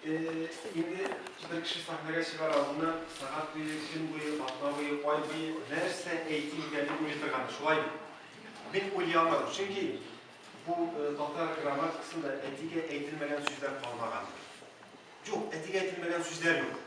Инде бер кеше сәхнәгә чыгар алдыннан сәгать буе, көн буе, атна буе, ай буе нәрсә әйтим икән дип уйлый торган иде, шулай бит? Мин уйлый алмадым, чөнки бу татар грамматикасында әтигә әйтелмәгән сүзләр калмагандыр. Юк, әтигә әйтелмәгән сүзләр юк.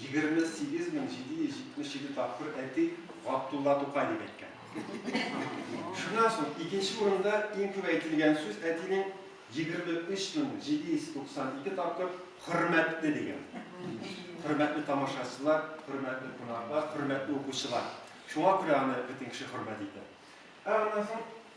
28.777 тапкыр әти Габдулла Тукай дип әйткән. Шуннан соң икенче урында иң күп әйтелгән сүз әтинең 23.792 тапкыр хөрмәтле дигән. Хөрмәтле тамашачылар, хөрмәтле кунаклар, хөрмәтле укучылар. Шуңа күрә аны бөтен кеше хөрмәт итә. Ә аннан соң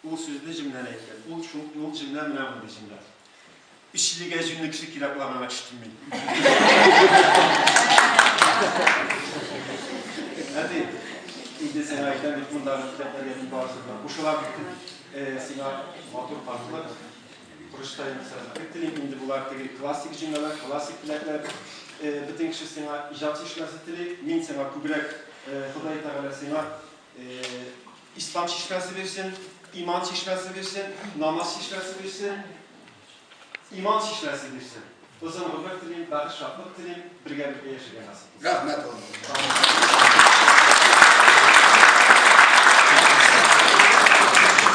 Ул сүзне җөмләдә әйткән. Ул шул, ул җөмлә менә мондый җөмлә. Өчлегә җүнле кеше кирәк була, миңа кеше килми. Әти, инде сиңа әйтәм бит, мондагы китапларга мин барысын да кушылам. Сиңа матур картлык, Курышта инде сәләмәтлек телим. Инде болар теге классик җөмләләр, классик теләкләр. Бөтен кеше сиңа иҗат җитешмәсе тели. Мин сиңа күбрәк, Ходай Тәгалә сиңа Ислам чишмәсе бирсен, иман чишмәсе бирсен, намаз чишмәсе бирсен, иман чишмәсе бирсен. Озын гомер телим, бәхет шатлык телим, бергәлектә яшәргә насыйп. Рәхмәт улым.